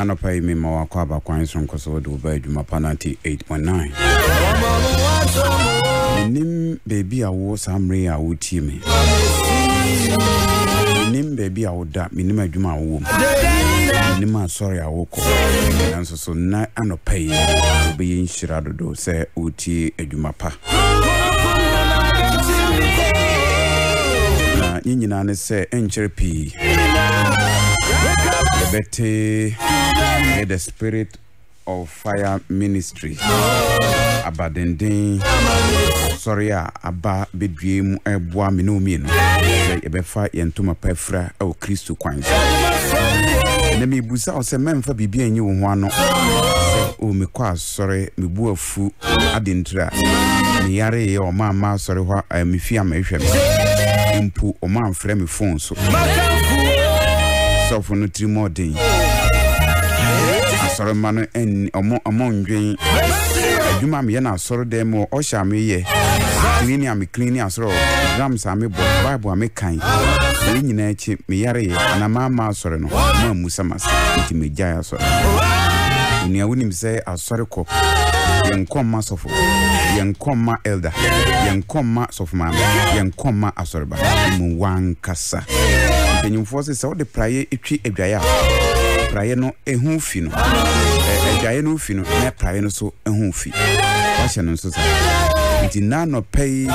anɔpa yi mema wakɔ abakwan so nkɔ sɛ wode wo ba adwuma pa 98.9 menim baabi a wo saa mmerɛ a wotie me menim baabi a woda menim adwuma a wowɔ mu menim asɔre a wokɔ nanso So nnɛ anɔpa yi wobɛyɛ nhyira dodo sɛ woretie adwuma pa? Na ne nyinaa ne sɛ ɛnkyɛre pii yɛbɛte ɛyɛ the spirit of fire ministry abadenden sɔre a aba bɛdue mu ɛboa me ne wo mmienu sɛ yɛbɛfa yɛn ntoma pa afira wɔ kristo kwan so na mebusa wo sɛ mɛmfa biribi anyi wo ho ano sɛ o mekɔ asɔre mebu afu ade ntira meyareyɛ ɔma mma asɔre hɔ a mefi ama ɛhwɛ me mpo ɔma mfrɛ me phones sɔfo no tiri mu ɔden asɔre mma no ɔmo ɔmo ndwen adwuma mi yɛ na asɔre dɛm mu ɔhyɛ a mi yɛ clean a mi clean asɔrɔ drums a mi bɔ bible a mi kan wei nyinaa akyi mi yare yɛ ana maa ma asɔre no ɔmo amusa ma se nti mi gya asɔre onua wonim sɛ asɔre kɔ yɛn kɔn ma sɔfo yɛn kɔn ma elder yɛn kɔn ma sɔfo maame yɛn kɔn ma asɔre. baako mu wankasa. Mpanyimfoɔ se sɛ wode praeɛ twi adwaeɛ a, praeɛ no ho fi no. Adwaeɛ no fi no, na praeɛ no so ho fi. Wahyɛ no nso saa. Nti na nɔpɛ yi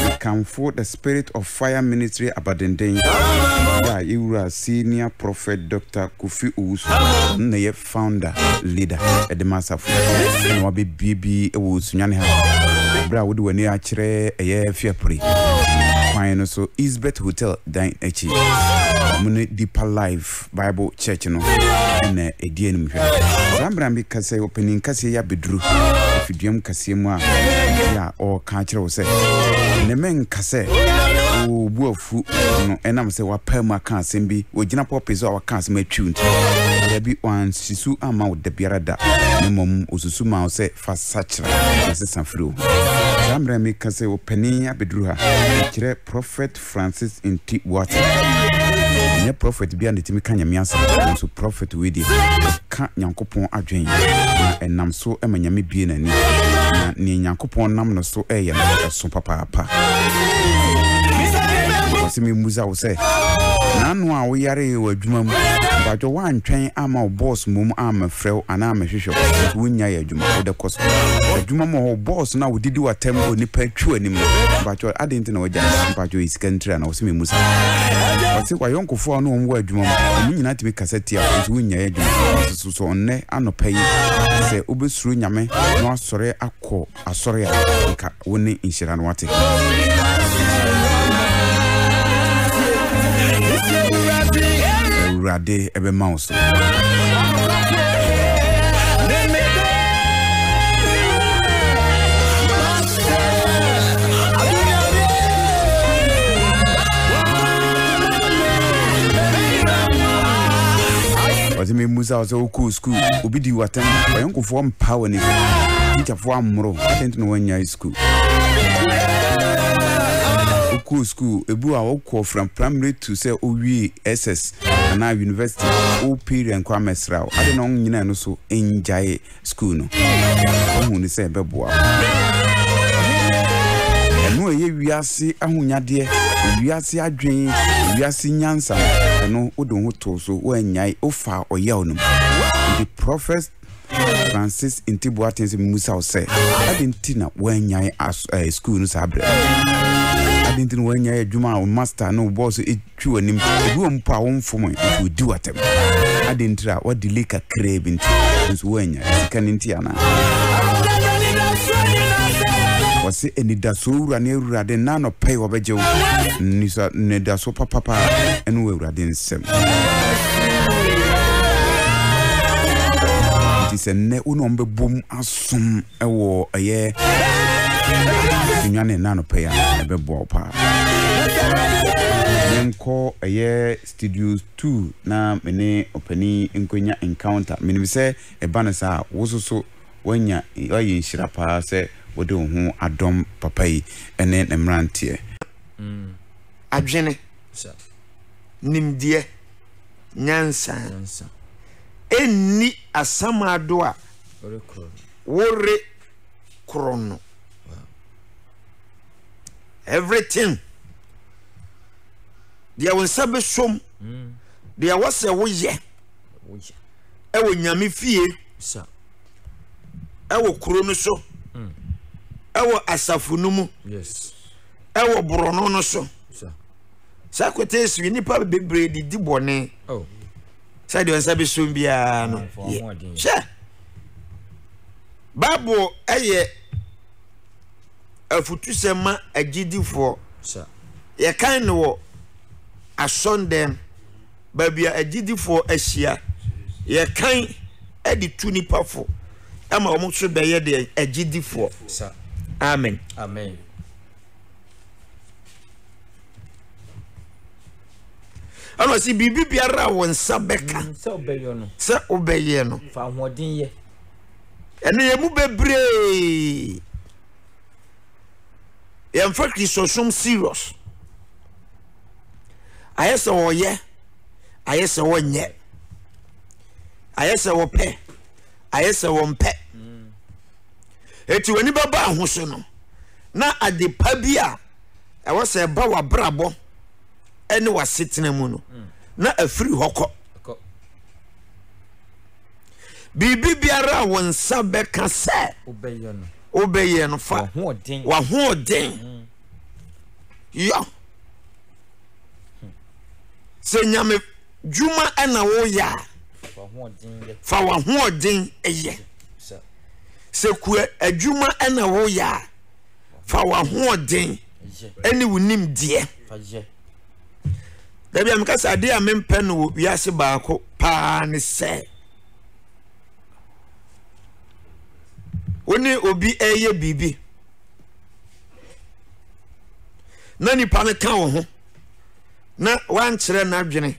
mekamfo the spirit of fire ministry abadenden a yɛwura senior prophet Dr. Kofi Owusu na yɛ founder, leader, de ma asafo yi na wabɛbie bi wɔ osunyane ha berɛ a wode w'ani akyerɛ ɛyɛ fiapre kwan no so Eastbet Hotel dan akyi ɔmo ne Deeper Life Bible Church no ɛna ɛdi anim hwɛ saa mmerɛ bi kasɛ ɔpanin kaseɛ yi abɛduru afiduam kaseɛ mu a yɛ a ɔreka akyerɛ wo sɛ ne menka sɛ ɔbu fu no ɛnam sɛ wapaa mu aka asɛm bi, wagyina pulpit so a waka asɛm atwiw nti? Dabi, wansi su amma wo da biara da, na mmom osusu maa wo sɛ fa sakyera na sesa firi wo ho. Saa mmerɛ a meka sɛ ɔpanin abɛduru ha, mekyerɛ Prɔfɛt Francis Nti Boateng. Ɛnyɛ prɔfɛt biara na ɛtumi ka Nyame asɛm, nanso prɔfɛt wei deɛ, ka Nyankopɔn adwen, na ɛnam so ma Nyame bue n'ani, na nea Nyankopɔn nam no so reyɛ no ɛso papaapa. Wɔse memmusa wo sɛ, naano a woyaree wɔ adwuma mu, badwo woantwɛn ama wo boss mmom ammɛfrɛ wo anaa ammɛhwehwɛ wo, nso wonyae adwuma, wode kɔ so. Adwuma mu hɔ, wo boss no a wodidi w'atam wɔ nnipa atwi anim no, badwo adɛn nti na wagyae? Badwo ɛyɛ sika ntira na wɔse memmusa wo. Wɔse w'ayɔnkofoɔ a wo ne wɔn wɔ adwuma mu, wɔn nyinaa tumi ka. ɛsɛ tia wo, nso wonyae adwuma. Nanso so, so nnɛ anɔpa yi, sɛ wobɛsuro Nyame na woasɔre akɔ asɔre a, nka wo ne nhyira no ate. Awurade ɛbɛma wo so. ɔsɛ memusa wo sɛ wokɔɔ skuul obi di watɛm ɔyɔnkofoɔ mpa wɔ ne tikyafoɔ ammoro adɛn nti na woanyae skuul wokɔɔ skuul ebu a wokɔɔ fra primary to sɛ wowie ss anaa university wo parent kɔ amɛsra wo ade na ɔnyina ɛno so ngyae sukuu no, woahu no sɛ ɛbɛboa wo. Ɛno a ɛyɛ wiase ahonyadeɛ, wiase adwene, wiase nyansa, ɛno wode wo ho too so, woannyae, wofaa ɔyaw no mu. Nti Prophet Francis Nti Boateng sɛ mmusa wo sɛ, ade nti na woannyae sukuu no saa berɛ? Ade nti na woannyae adwuma a wo master ne wo bɔɔso twi w'anim so ebi wɔ mpo a womfom ɛ nso odi w'atɛm ade nti a wadelay kakraa bi nti nso woanya sika no nti anaa wɔse anidasoɔ wura ne awurade nna anɔpɛ wɔbɛgye wo nisa nidasoɔ papapa ɛne wɔ awurade nsɛm nti sɛ nnɛ wo ne ɔmbɛbom asom Ɛwɔ ɛyɛ nnuane nna anɔpa yi a ɛbɛboa wo paa. Menkɔ ɛyɛ studio two na me ne ɔpanin nkɔnya encounter. Menim sɛ ɛba no saa a, wo nso so woanya woayɛ nhyira paa sɛ wode wo ho adɔm papa yi ne ne mmeranteɛ. Adwene, nimdeɛ, nyansa. Ɛnni asamado a wore koro no everything deɛ wo nsa bɛsom mm. deɛ ɛwɔ sɛ woyɛ ɛwɔ nyame fie ɛwɔ kuro no so mm. ɛwɔ asafo no mu ɛwɔ borɔno no so sɛ kote si nnipa bebree didi bɔne oh. sɛdeɛ ɔnsa bɛsom biara no yɛ hwɛ bible ɛyɛ afutusɛm ma agyidifoɔ yɛkan no wɔ asɔndɛm baabi a agyidifoɔ ahyia yɛkan de tu nipa fo ɛma wɔn nso bɛyɛ deɛ agyidifoɔ amen. amen. ɛna ɔsi biribi biara a wɔn nsa bɛka mm, sɛ ɔbɛyɛ no sɛ ɔbɛyɛ no fa ahoɔden yɛ ɛna yɛn mu bebree yɛn fɛ kristosom serious ayɛ sɛ ɔyɛ ayɛ sɛ ɔnyɛ ayɛ sɛ ɔpɛ ayɛ sɛ ɔmpɛ mm. eti wɔn ani bɛba ahosuo no. na ade pa bi a ɛwɔ sɛ ɛba w'abrabɔ ne w'asetena mu no, mm. na afiri hɔ kɔ. Biribi biara a wo nsa bɛka sɛ wobɛyɛ no fa w'ahoɔden mm. yɔ. Sɛ nyame dwuma na woreyɛ a, fa w'ahoɔden yɛ. Sɛ kua adwuma na woreyɛ a, fa w'ahoɔden ne wo nimdeɛ fa yɛ. Dabi a meka sɛ adeɛ a mempɛ no wɔ wiase baako paa ne sɛ wo ne obi ɛreyɛ biribi na nipa no ka wo ho na wankyerɛ n'adwene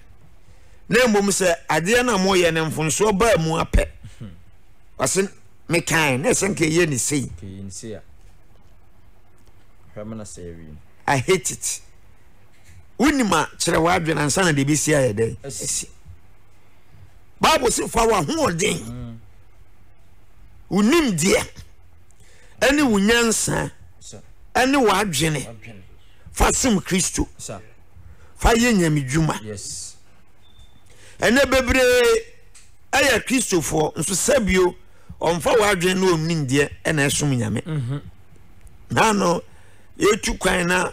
na mmom sɛ adeɛ no a moyɛ no mfonsoɔ baa mu apɛ ɔse mekae na ɛsɛ nka ɛyɛ ne sei I hate it wonim a kyerɛ w'adwene ansa na deɛ bɛsi ayɛ dɛn asi bible se fa w'ahoɔden mm. wo nimdeɛ ɛne wo nyansa ɛne w'adwene fa som kristo fa yɛ nyamedwuma ɛnɛ bebree ɛyɛ kristofoɔ nso sɛbio ɔmfa w'adwene na ɔnim deɛ ɛna ɛsom nyame mhm. na no yɛtu kwan na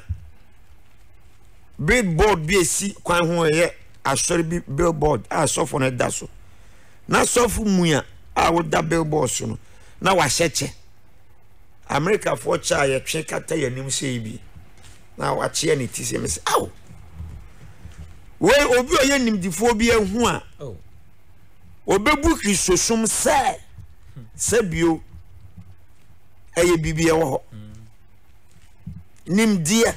billboard bi esi kwan ho ɛyɛ asɔre bi billboard a sɔfo no da so na sɔfo mua a woda billboard so no na wahyɛ kyɛ Amerikafoɔ kyɛ a yɛtwe kata yɛn anim sei bi na wakyeɛ ne ti sɛ mesɛ ao wei obi a ɔyɛ nimdifoɔ bi ahu a oh. ɔbɛbu kristosom sɛ sɛ bio ɛyɛ biribi ɛwɔ hɔ mm. nimdeɛ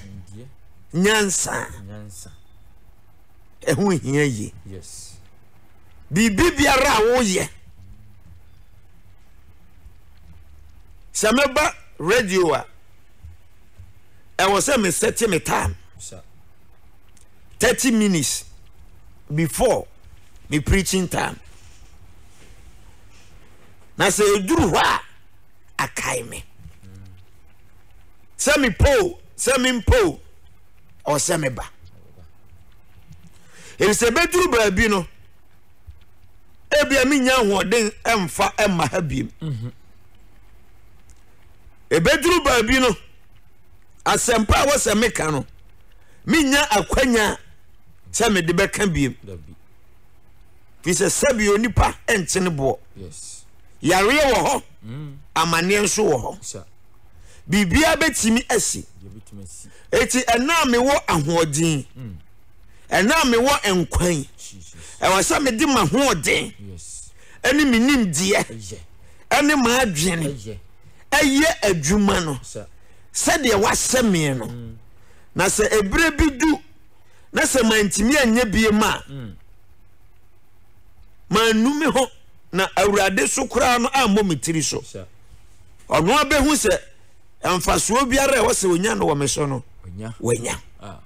nyansa ɛho hia yie biribi biara a woyɛ sɛ mɛba radio a ɛwɔ sɛ mesɛte me time thirty minutes before me preaching time na sɛ ɛduru hɔ a akae me sɛ mepoo sɛ mempoo ɔsɛ meba ɛfisɛ bɛduru baabi no ebia menya ahoɔden mfa mma ha biem ɛbɛduru mhm. baabi no asɛmpa a wɔsɛ meka no menya akwanya sɛ mede bɛka biem fi sɛ sɛbi onipa nkyene boɔ yareɛ wɔ hɔ mm. amanneɛ nso wɔ hɔ biribiara bɛtumi asi ɛti ɛna a mewɔ ahoɔden mm. Ɛnnɛ a mewɔ nkwa yi, ɛwɔ sɛ mede m'ahoɔden ne me nimdeɛ ne m'adwene yɛ adwuma no sɛdeɛ wasɛ me no. Mm. Na sɛ ɛberɛ bi du na sɛ mantumi anyɛ biem a, mm. mannu me ho na awurade so koraa no ammɔ me tiri so. Ɔno abɛhu sɛ mfasoɔ biara a ɛwɔ sɛ ɔnya no wɔ me so no, wanya. Ah.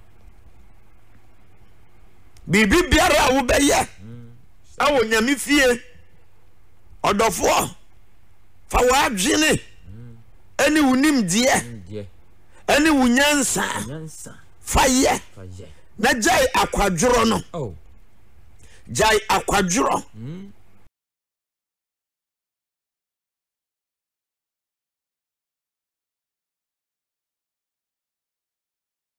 biribi biara a wobɛyɛ ɛwɔ mm. nyame fie ɔdɔfoɔ fa w'adwene ɛne wo nimdeɛ ɛne wo nyansa fa yɛ na gyae akwadworɔ no oh. gyae akwadworɔ mm.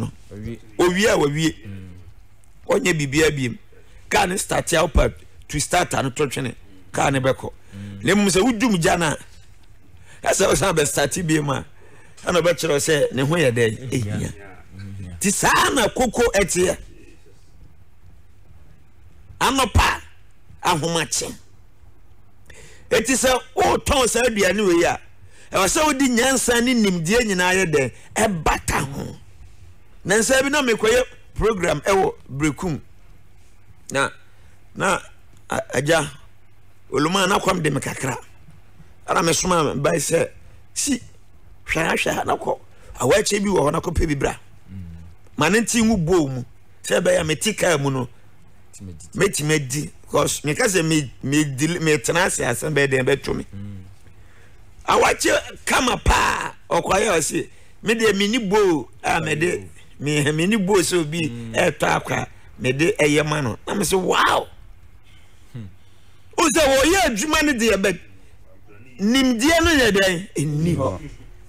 no owie a wawie ɔnyɛ biribiara biem kaa ne start a wopa tu start a no to twene kaa ne bɛkɔ mm. na mmom sɛ wodum gya no a ɛsɛ ɔsan bɛstate biem a ɛna ɔbɛkyerɛ sɛ ne ho yɛ dɛn ɛhia nti saa na koko ɛteɛ anɔpa ahomakyem Enti sɛ woretɔn saa aduane wei a, ɛwɔ sɛ wode nyansa ne nimdeɛ nyinaa yɛ dɛn ɛbata ho. Na nsa bi na mekɔyɛ program ɛwɔ Brekum na na agya oluma na kwam de me kakra ɛna mesoma bae sɛ si hwɛ ahwɛ na kɔ awɔakyɛ bi wɔ hɔ na kɔpɛ bi bra ma ne nti ngu bɔɔ mu sɛ ɛbɛyɛ a mete kaa mu no mɛtumi adi because meka sɛ metena ase asɛm bɛyɛ dɛn bɛto me mm. awakye kama paa ɔkwaeɛ a ɔse medeɛ meni boo a mede meni boo sɛ obi mm. ɛtɔ akwa mede ɛyɛ ma no na mesɛ wow hmm. wo sɛ wɔyɛ adwuma no deɛ bɛ nimdeɛ no nyɛ dɛn ɛnni hɔ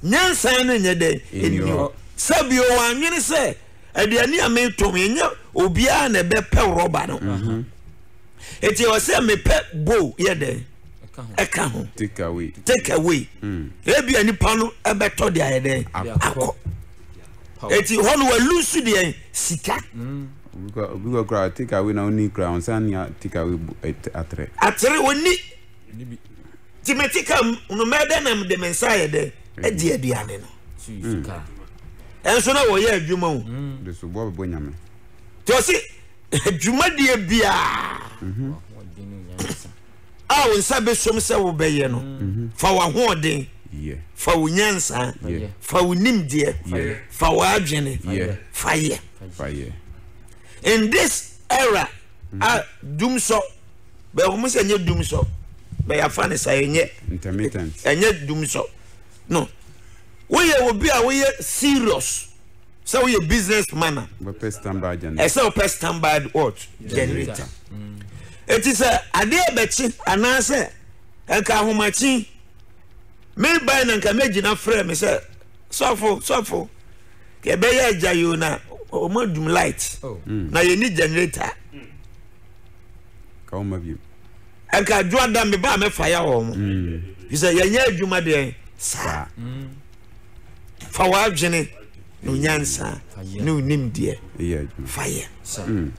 nyansan no nyɛ dɛn ɛnni hɔ sɛ bio wɔanwene sɛ Aduane a metɔn ɛnyɛ obiara na ɛbɛpɛ rɔba no ɛti ɛwɔ sɛ mepɛ bowl yɛ dɛn ɛka ho take away take away mm. ebia nipa no ɛbɛtɔ de ayɛ dɛn akɔ ɛti hɔ no walu nso deɛ sika mm. obi kɔ kora take away na ɔni kora ɔnsa ni take away atere atere ɔni Nti mete ka mu no mɛdɛ na mede me nsa ayɛ dɛ adi aduane no. Ɛnso na wɔyɛ adwuma o. De so bɔ bɛbɔ nyame. Nti ɔse adwumadeɛ biara a wo nsa bɛsom sɛ wobɛyɛ no fa w'ahoɔden fa wo nyansa fa wo nimdeɛ fa w'adwene fa yɛ in this era a dumsɔ bɛ ɔmo sɛ ɛnyɛ dum sɔ bɛ yafa ne sa ɛnyɛ intermittent ɛnyɛ dum sɔ no woyɛ obi a woyɛ serious sɛ woyɛ business man a bɛpɛ standby generator ɛsɛ wopɛ standby what generator eti sɛ adeɛ bɛkye anaasɛ nka ahomakye me ban na nka mɛgyina frɛ me sɛ sɔfo sɔfo yɛbɛyɛ agya yio na ɔmo adum light oh. na yɛni generator. Mm. ka wɔn abiem. ɛnka adwoada me ba a mɛfa ya wɔn mo mm. fi sɛ yɛnyɛ adwuma deɛ saa fa w'adwene ne nyansa ne onimdeɛ fa yɛ mm.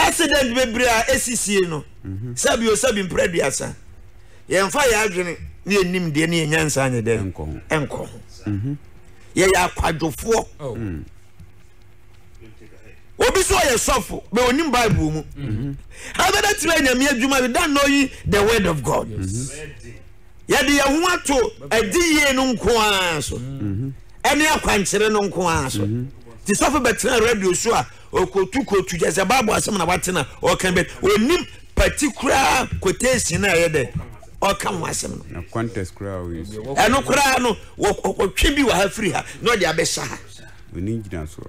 accident bebree a ɛsisie no mhm. sɛbi o sɛbi mprɛ aduasa yɛmfa yɛ adwene ne yɛ nimdeɛ ne yɛ nyansa nyɛ dɛ ɛnkɔ ho mhm. yɛyɛ akwadwofoɔ oh. mm. obi sɛ ɔyɛ sɔfo bɛ onim bible mu abɛbɛtumi anyame adwuma you don't know ye the word of god yɛde yɛn ho ato adi yie no nko ara so ɛne akwankyerɛ no nko ara so te sɔfo bɛtena radio so a ɔkɔtu kɔtu kyɛ sɛ bible asɛm na watena ɔka bɛ ɔnim particular quotation na ɛyɛ dɛ ɔka ho asɛm no ɛno koraa no wɔtwe bi wɔ ha firi ha na ɔde abɛhyɛ ha Onni ngyinasoɔ.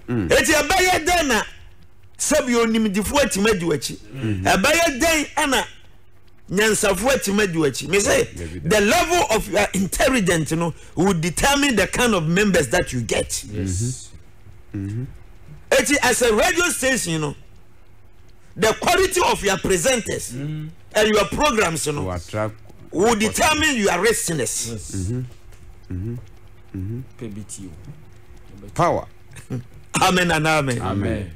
Mm. Eti ɛbɛyɛ dɛn na sɛbi onimdifo atumi adi w'akyi? Mm-hmm. Ɛbɛyɛ dɛn na nyansafo atumi adi w'akyi? Me say the level of your intelligence no will determine the kind of members that you get. Yes. Mm-hmm. Mm-hmm. Eti as a radio station, you know. the quality of your presenters mm. and your programs no will determine your listeners. Yes. Mm-hmm. Mm-hmm. Mm-hmm. Power. amen and amen. amen.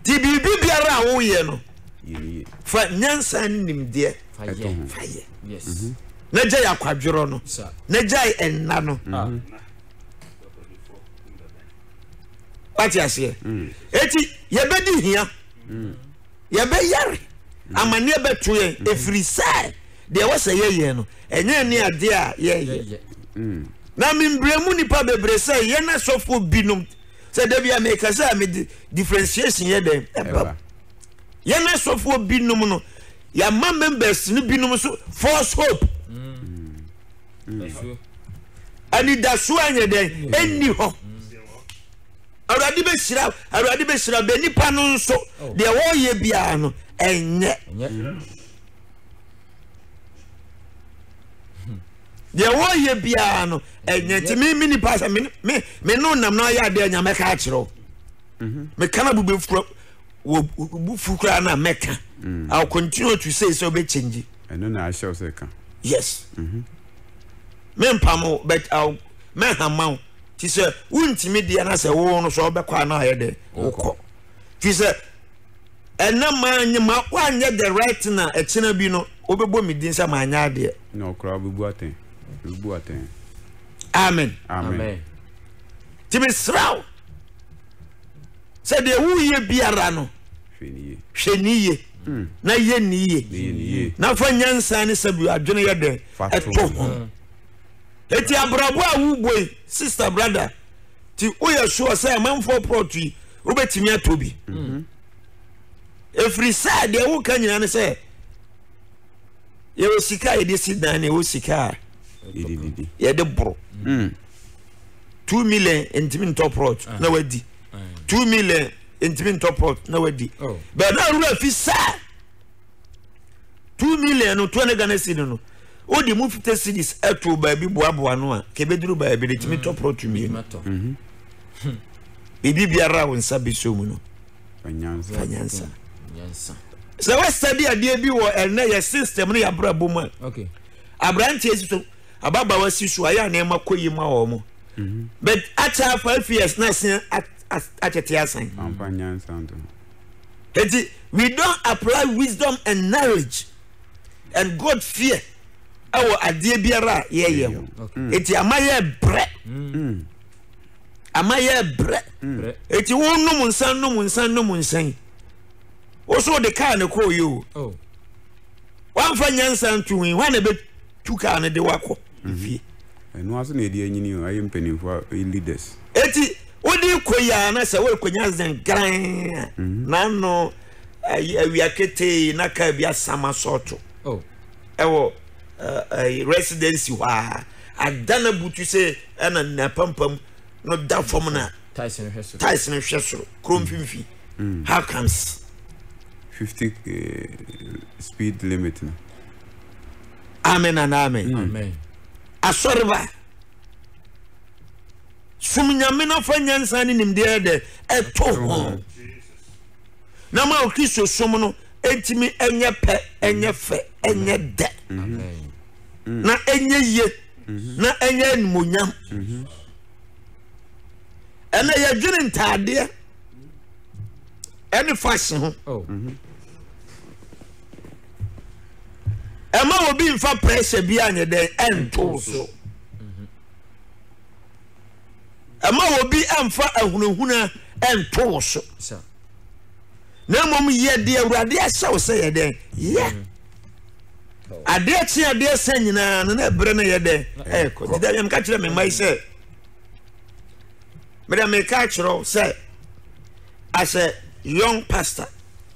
ti biribi biara a woyɛ no fa nyansa ne nimdeɛ fa yɛ mm-hmm. na gya yɛ akwadworɔ no na gya yɛ ɛnna no. Ah. Mm-hmm. wate aseɛ ɛti yɛbɛdi hia yɛbɛyare amanneɛ bɛto yɛn ɛfiri sɛ deɛ ɛwɔ sɛ yɛyɛ no ɛnyɛ ne adeɛ a yɛyɛ na membrɛ mu nnipa bebree sɛ yɛn asɔfoɔ binom sɛ da bi a meka sɛ mede differentiation yɛ dɛn ɛba yɛn asɔfoɔ binom no yɛama members no binom so false hope mm. anidasoɔ ɛnyɛ dɛn ɛnni hɔ awurade bɛhyira awurade bɛhyira bɛ nipa no nso oh. deɛ wɔreyɛ biara no ɛnyɛ deɛ wɔreyɛ biara no ɛnyɛ nti me me nipa sɛ me me me no nam na ɔyɛ adeɛ nya mɛka akyerɛw mhm. meka na bube fura wɔ bu fukura na mɛka mm. i will continue to say sɛ ɔbɛ change. Ɛno na ahyɛ wo sɛ ka. Yes. Mempam wo but I'll mɛhama wo. Ti sɛ wontumi deɛ na sɛ wo no so ɔbɛkɔ a na ayɛ dɛ wokɔ. Fi sɛ ɛnɛ maanyɛ ma woanyɛ the right thing a ɛkyena bi no wobɛbɔ me din sɛ maanyɛ adeɛ. Na ɔkora wobɛbu atɛn. Wobɛbu atɛn. Amen. Amen. Ti mesrɛ wo. sɛ deɛ woyɛ biara no hwɛ ni yie hmm. na yɛ ni yie na fa nyansa ne sɛ bi adwene yɛ dɛn ɛto ho hmm. eti abrabɔ a wobɔ yi sista brada ti woyɛ soɔ sɛ amanfoɔ prɔto yi wobɛtumi atɔ bi hmm. ɛfiri sɛ deɛ woka nyina ne sɛ yɛwɔ sika a yɛde si dan na ɛwɔ sika a yɛde boro two million ntumi ntɔ prɔt ah. na wadi ah. two million ntumi ntɔ prɔt na wadi oh. bɛn na awura fi saa two million no two hundred ghana cedi no o de mu fifty cedis ɛto baabi boaboa no a kebeduru baabi de tumi tɔ prɔt mmienu mhm. hmm. biribi biara a wɔn nsa bi so mu no fa nyansa sɛ wɔsɛ bi adeɛ bi wɔ ɛnɛ yɛ system no yɛ abrabɔ mu a aberanteɛ si so. Ababaawa si so ayɛ a nneɛma kɔ yie ma wɔn. But akyɛ a five years na ɛsɛn atete asan. Amfa nyansa nto ho. Eti we don't apply wisdom and knowledge and God fear ɛwɔ adeɛ biara a yɛyɛ ho. Eti ama yɛ brɛ. Ama yɛ brɛ. Eti wo nom nsa nom nsa nom nsa yi. Woso de kaa ne kɔɔ yɛ o. Wamfa nyansa nto ho yi hwan na ɛbɛ Tu kaa no de wo akɔ fie. Ɛno ase na yɛde anyini o, ayɛ mpanimfoɔ a, ɛyɛ leaders. Eti wode kɔ yi a na sɛ worekɔnya zengran a, n'ano ayi awia ketee na kaa bi asam asɔɔto ɛwɔ ɛɛ residency hɔ a ada na butu sɛ ɛna n'apampam no da fam na Tais no hwɛ soro. tais no hwɛ soro kuro mfimfini. How comes? 50 eh, speed limit no amen and amen asɔreba som nyame no fa nyansa ne nimdeɛ dɛ ɛto ho na ma okristo som no ɛntumi ɛnyɛ pɛ ɛnyɛ fɛ ɛnyɛ dɛ na ɛnyɛ yie mhm. na ɛnyɛ animonyam mhm. ɛnna yɛdwene ntaadeɛ ɛne fashion ho oh. mhm. ɛma obi nfa pressure bi anyɛ dɛn ɛntow so ɛma obi ɛnfa ahunahuna ɛntow so na mmom yɛ deɛ awurade ahyɛ wo sɛ yɛ dɛn yɛ mm-hmm. adeɛ kye adeɛ sɛ nyinaa no na ɛberɛ no yɛ dɛn ɛkɔ nti dɛ meka kyerɛ me mma yi sɛ mede meka kyerɛ wo sɛ as a young pastor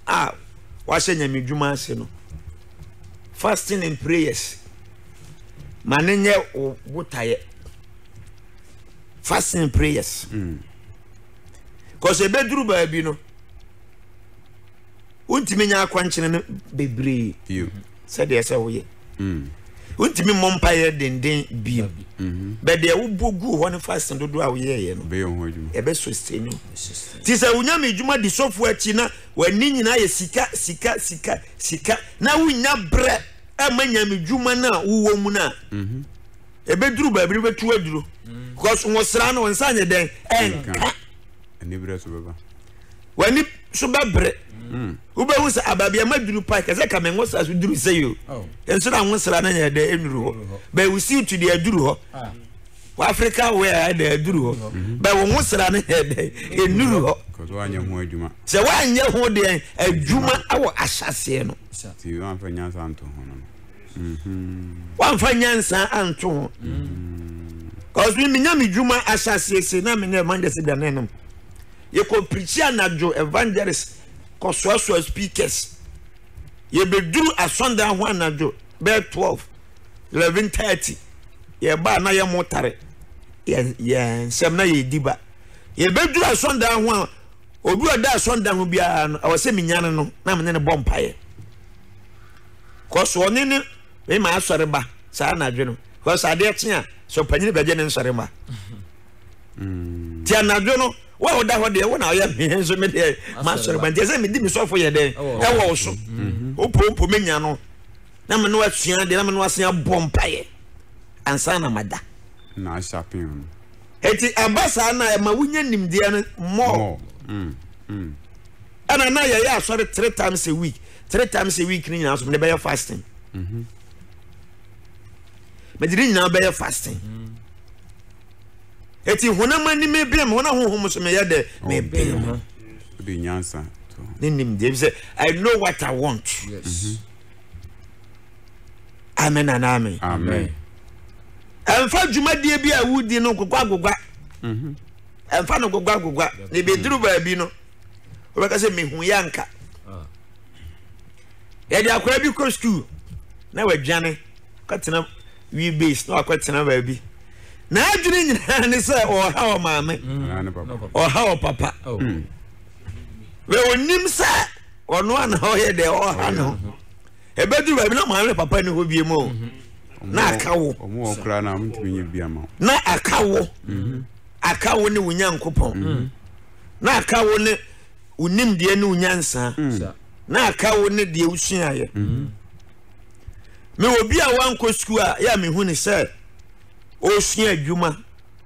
a wahyɛ nyame dwuma ase no fasting and prayers ma ne nyɛ wo botaeɛ fasting and prayers mm. cause ɛbɛduru baabi no wontumi nya akwankyerɛ no bebree sɛdeɛ ɛsɛ woyɛ mm. wontumi mmɔ mpaeɛ denden bio mm-hmm. bɛdeɛ wobɔ guu hɔ no fasten dodoɔ a woyɛɛyɛ no ɛbɛ sustain nti sɛ wonyame adwuma di sɔfoɔ akyi na w'ani nyinaa yɛ sika sika sika sika na wonnya berɛ ɛma nyame dwuma no a wowɔ mu no a mm-hmm. ɛbɛduru baabi no bɛtu aduro mm. because nwosra no nsa nyɛ dɛn ɛnka w'ani so bɛbere mm. wobɛhu sɛ ababiama duru pa kɛsɛ ka me nwosra so duru sɛ yo oh. nso na nwosra no yɛ dɛ ɛnuru hɔ bɛwo siw tu deɛ aduru hɔ ah. w'afrika wɛ a ɛdɛ aduru hɔ mm-hmm. bɛwo nwosra no yɛ dɛ ɛnuru hɔ sɛ woanyɛ ho deɛ adwuma wɔ ahyɛseɛ no woamfa nyansa anto ho mm-hmm. mm-hmm. cause menya me dwuma ahyɛseɛ se na menyɛ manyɛ sɛ dwane nom yɛkɔ preachi anadwo evangelist kɔ soasoa speakers yɛbɛduru asɔndan ho anadwo bɛɛ 12 11:30 yɛba a na yɛ mo tare yɛn yɛn nsɛm na yɛdi ba yɛbɛduru asɔndan ho a obi a ɔda asɔndan ho biara no ɛwɔ sɛ menyane no na mene ne bɔ mpaeɛ kɔso ɔne ne mema asɔre ba saa anadwo no kɔso adeɛ kye a sɛ ɔpanyini bɛgye ne nsɔre ma nti anadwo no wo a woda hɔ deɛ wo na ɔyɛ mehe nso me deɛ masɔre ba nti ɛsɛ medi me sɔfo yɛ dɛn ɛwɔ wo so mm-hmm. wopompo menya no na me no asua deɛ na me no asua bɔ mpaeɛ ansa na mada na ahyapee no ɛti ɛba saa na ɛma wonya nimdeɛ no mɔ mm, mm. ɛna na yɛyɛ asɔre three times a week three times a week no nyinaa so mede bɛyɛ fasting mm-hmm. mede ne nyinaa bɛyɛ fasting mm. eti honam ani mebɛn mu hɔ na honhom nso meyɛ dɛ mebɛn mu. wode nyansa ne nim deɛ sɛ i know what i want yes. amen anaa amen amen ɛmfa dwumadie bi a wodi no nkokɔ agogwa mhm. ɛmfa no gogwa gogwa na ebɛduru baabi no wobɛka sɛ mehu yɛ anka ah. yɛde akwaa bi kɔ skuul na wadwane kɔtena wie base na wakɔtena baabi n'adwene nyinaa ne sɛ ɔha wɔ maame ɔha wɔ papa oh. hmm. bɛ onim sɛ ɔno ana ɔyɛ dɛ ɔha ne ho ɛbɛduru baabi na maame papa ne hɔ bie mu o mhm. na aka wo na aka wo mhm. aka wo ne wo nyankopɔn mhm. na aka wo ne wo nimdeɛ ne wo nyansa na aka wo ne deɛ wosuaeɛ Mewɔ obi a wankɔ sukuu a yɛ a mehu ne sɛ ɔresua adwuma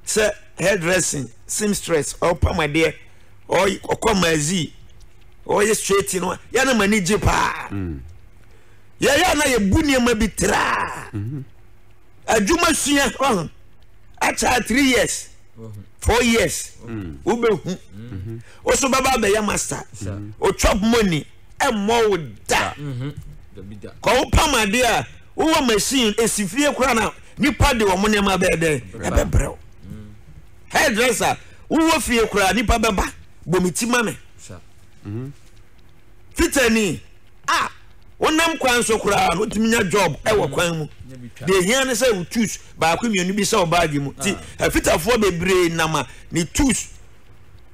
sɛ hairdressing, seamstress, ɔpam adeɛ, ɔkɔ mazi, ɔyɛ straight no yɛ na m'ani gye paa. Mm. Yɛyɛ na yɛbu nneɛma bi traa. Mm-hmm. Adwuma sua ɔho akyɛ three years mm-hmm. four years mm. wobɛhu. Ɔso mm-hmm. bɛba abɛyɛ master. Ɔtwap money. mmɔ wo da kɔ wopam adeɛ a wowɔ machine ɛsi fie koraa na nipa de wɔn nneɛma bɛyɛ dɛ ɛbɛbrɛ wo hairdresser wowɔ fie koraa nipa bɛba bɔ me ti ma me fitani a wonam kwan so koraa no wotumi nya job ɛwɔ kwan mu deɛ ɛhia ne sɛ wo tus baako mmienu bi sɛ wo baage mu nti afitafoɔ bebree nam a ne tus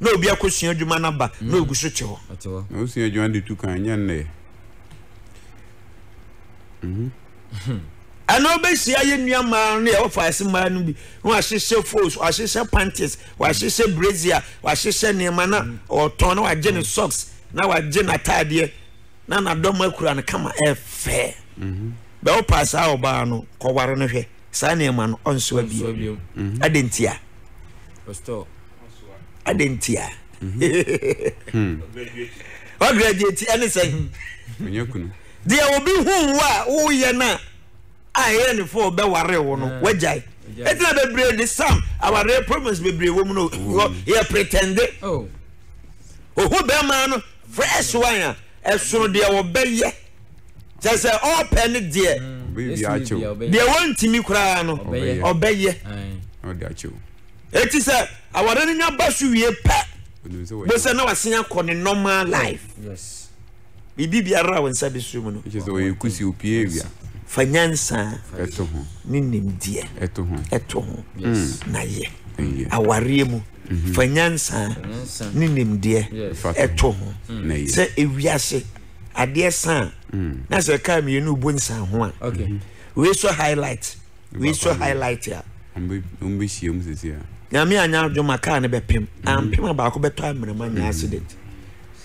na obi akosua adwuma no aba na ogu so te hɔ. Na wosua adwuma no de tu kan, ɛnyɛ nnɛ. Mhm. ɛna wobɛhyia yɛ nnua mmaa no yɛ wɔfa ase mmaa no bi na wahyehyɛ fos wahyehyɛ panties wahyehyɛ brazier wahyehyɛ nneɛma na mm. ɔtɔn na wagye ne mm. socks na wagye n'ataadeɛ na n'adɔm akura no kama ɛfɛ mm-hmm. bɛ wopa saa ɔbaa no kɔware no hwɛ saa nneɛma no ɔnsoa bio ɛde mm-hmm. ntia adɛn ntia wagraduate ɛne sɛn deɛ obi hu wo a woyɛ no a ɛyɛ ne fo bɛware wo no wagyae ɛtina bebree de sam awareɛ problems bebree wɔ mu no yɛ pretende ohu bɛrima no fresh one a ɛsono deɛ wɔbɛyɛ kyɛ sɛ ɔpɛ ne deɛ deɛ wɔntumi koraa no ɔbɛyɛ Eti sɛ aware no nya ba so wie pɛ, bosa na wasen akɔ ne normal life. Yes. Biribi biara a wo nsa de so mu no. Kyerɛ sɛ ɔyɛ kusi opie awia. Fa nyansa. Ɛto ho. Ne nimdeɛ. Ɛto ho. Ɛto ho. Yes. Na yɛ. Awareɛ mu. Mhm. Fa nyansa. Ne nimdeɛ. Ɛto ho. Sɛ ewiase adeɛ san. Mm. Na sɛ kaa mmienu bu nsan ho a. Okay. Mhm. Wei so highlight. wei so highlight a wɔn bɛ hyia mu sisi a. nyame anya adwo ma kaa no bɛ pem mm. ampem a baako bɛtɔ amena nya mm. accident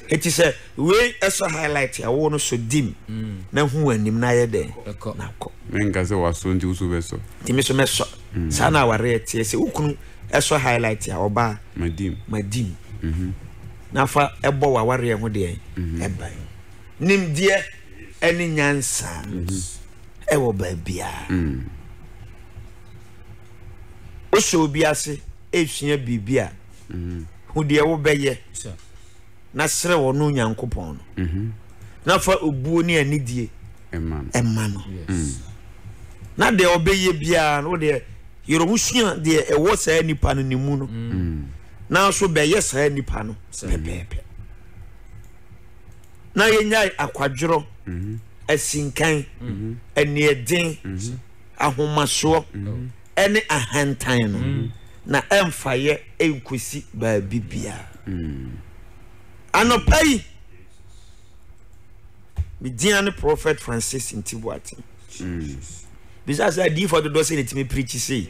eti sɛ wei ɛsɔ highlight a wɔn no so dim mm. na hu anim na ayɛ dɛ na kɔ. mɛ nka sɛ waso nti woso bɛ sɔ. tèmi so mɛ sɔ saa na awari ɛteɛ sɛ wokunu ɛsɔ highlight a ɔbaa ma dim ma dim mhm. nafa ɛbɔ wa awari ɛho deɛ ɛban mhm. nimdeɛ ɛne nyansa. Mhm. ɛwɔ baabiara. Wosɔ obi ase esua biribi a, hu deɛ wobɛyɛ na srɛ wɔn no Nyankopɔn no. Mm-hmm. Na fa obuo ne anidie ɛma no. Mm. Na deɛ ɔbɛyɛ biara no deɛ yɛrɛ ho sua deɛ ɛwɔ saa nipa no ne mu no. Mm. Nanso bɛyɛ saa nipa no pɛpɛɛpɛ. na yɛnyae akwadworɔ, asinkan, aniɛden, ahomasoɔ, ne ahantan no, na ɛmfaeɛ ɛnkɔsi baabi biara. Anɔpa yi, medin ne Prophet Francis Nti Boateng. Bisa sɛ adiyifoɔ dodoɔ sɛ na ɛtumi pirikyi sei.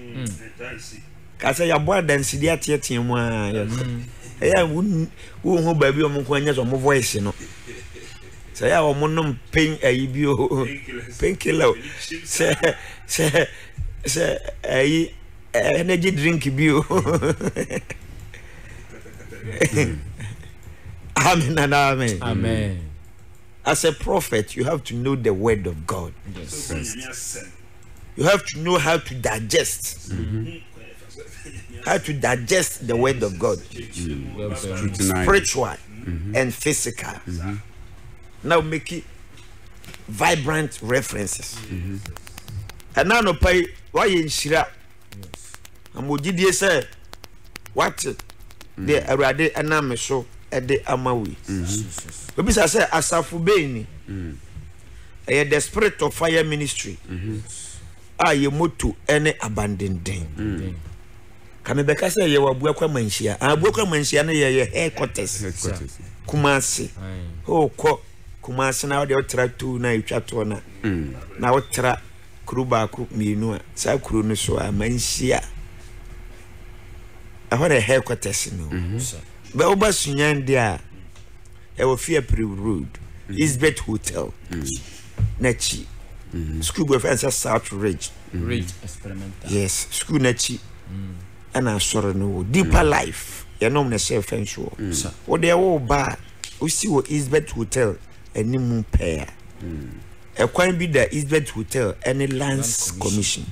Ka sɛ yɛabɔ adanse de ateatea mu a yɛn ho. Ɛyɛ a wonhu baabi a wɔn nko anya sɛ wɔn voice no. Sɛ ɛyɛ a wɔnom pain ayi bi o, painkiller o, sɛ sɛ sɛ ayi energy drink bi o. Amen and amen. Amen. As a prophet, you have to know the word of God. Yes. yes. you have to know how to digest how to digest the word of god spiritual and physical now make it vibrant references ɛna anɔpa yi wayɛ nhyira na mo gyidie sɛ wate deɛ awurade ɛnam me so ɛde ama wo yi obisa sɛ asafo bɛn ni ɛyɛ the spirit of fire ministry a yɛ moto ne abandenden ka mebɛka sɛ yɛwɔ abuakwa manhyia abuakwa manhyia no yɛyɛ headquarters kumase wokɔ kumase na wode wotra tu na ɛtwa toɔ no na wotra kuro baako mmienu a saa kuro no so a manhyia ɛhɔ na headquarters no bɛ woba sunyan deɛ a ɛwɔ fiapre road elizabeth hotel n'akyi school bi wɔfrɛ no sɛ south ridge yes school n'akyi ɛna asɔre no wɔ deeper life yɛnom ne sɛ fɛn so wɔ wode ɛwɔ ba a wosi wɔ elizabeth hotel anim mu pɛɛ a ɛkwan bi da elizabeth hotel ɛne lands commission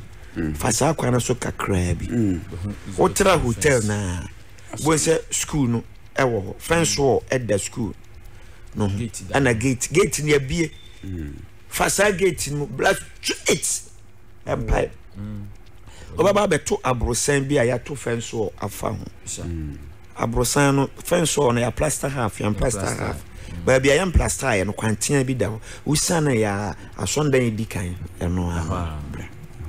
fa saa kwan no so kakraa bi wotra hotel no a Wobɛhu sɛ sukuu no wɔ hɔ. Fence wall da sukuu no ho. Ɛna gate gate no abie. Mm. Fa saa gate no bla straight mpae. Mm. Wobɛba abɛto aborosan bi a yɛato fence wall afa ho. Mm. Aborosan no fence wall no yɛ plaster half yɛn plaster half. Baabi a yɛn plaster yɛ no kwantea bi da hɔ. Wosiane yɛ asɔndan edi kan ɛno ara.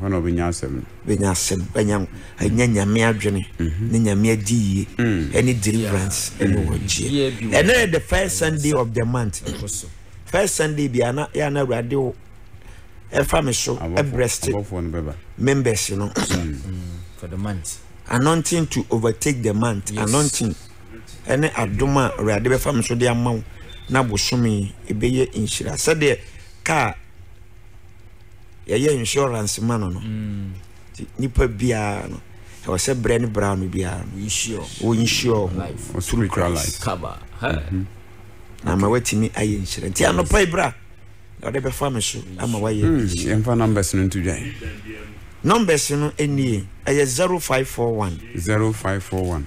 Hɔ na ɔbɛnya asɛm no. bɛnya asɛm bɛnya anya nyame adwene mhm. ne nyame adi yie mm. ɛne deliverance ɛne mm. wɔgyeɛ ɛnɛ yɛ the first sunday of the month first sunday bia na yɛ ana awurade o ɛfa me so ɛbrɛste members no mm. anointing to overtake the month anointing ɛne adom a awurade bɛfa me so de ama wo na bosome ɛbɛyɛ nhyira sɛdeɛ kaa yɛyɛ insurance ma no no mm. nti nipa biara no ɛwɔ sɛ berɛ ne bra no biara no wɔnsure ho through christ mhm. na ma watumi ayɛ nhyira nti anɔpa yi bra na ɔde bɛfa me so ama wayɛ hmm, yɛmfa numbers no nto dwan numbers no nie ɛyɛ 0541 0541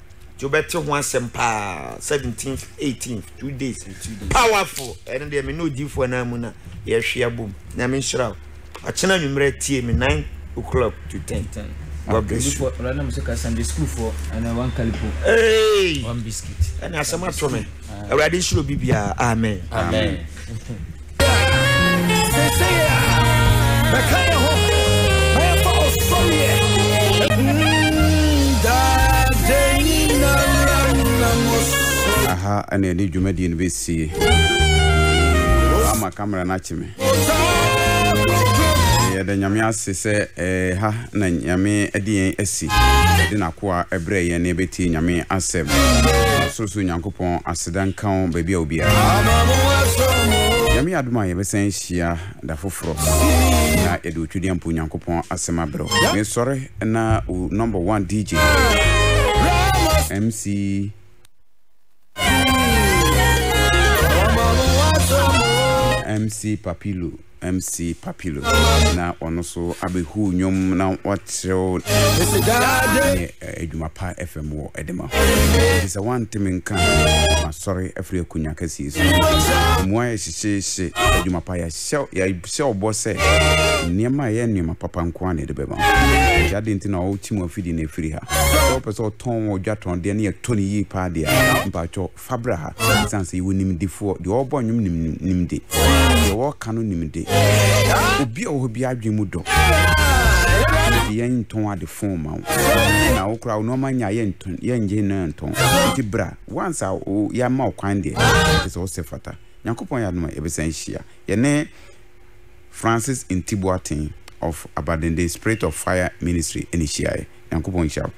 nti wobɛte ho asɛm paa seventeenth eighteenth two days powerful ɛno deɛ me ne odiifoɔ no mu na yɛhwe abom nyame nhyira wo akyena anwummerɛ tie me nine o'clock to ten God bless you. Ɔlɔ nam so ka Sunday school for ɛna one kalipo. Hey. One biscuit. Ɛna asɛm ato me. Awurade nhyira obi biara. Amen. Amen. aha ɛna ɛde dwumadie no bɛsie ama kamera no akye me yɛda nyame ase sɛ eh, ha na nyame de yɛn asi yɛde nakoa ɛberɛ yɛn ne ɛbɛtie nyame asɛm sorosoro nyankopɔn asɛm Aseda nka wo baabi a wo biara. Nyame yɛ adom a yɛbɛsan ahyia da foforɔ na yɛde Otwedeampo Nyankopɔn asɛm abrɛ wo. Mesɔre na wo number one DJ MC MC Papilo. MC Papilo na ɔno so abɛhu nnwom na wakyerɛw ne adwuma pa fam wɔ ɛde ma nti sɛ woanteme nka masɔre afiri akonya kɛseɛ so mmoa yɛ hyehyeehye adwuma pa yɛhyɛ ɔbɔ sɛ nneɛma ɛyɛ nneɛma papa nko a na ɛde bɛma nti ade nti na ɔwokyi mu afidi no afiri ha sɛ wopɛ sɛ ɔtɔn wɔ dwatɔn deɛ ne yɛtɔ ne yie paa deɛ mpaatwɔ Fa bra ha. Esiane sɛ yɛwɔ nimdefoɔ, deɛ ɔrebɔ nnwom nim nimde, deɛ ɔreka no nimde. Obi a ɔwɔ hɔ biara adwene mu dɔ. Ɛna de yɛn ntɔn ade fon ma wo. Na wo koraa wo nneɛma nya yɛ ntɔn yɛ ngye no ntɔn. Nti bra. Once a wo yɛama wo kwan deɛ, kyerɛ sɛ wosɛ fata. Nyankopɔn yɛ adom a yɛbɛsan ahyia. Yɛne Francis Nti Boateng of Abadenden Spirit of Fire Ministry na ɛhyiaeɛ. Nyankopɔn nhyira wo.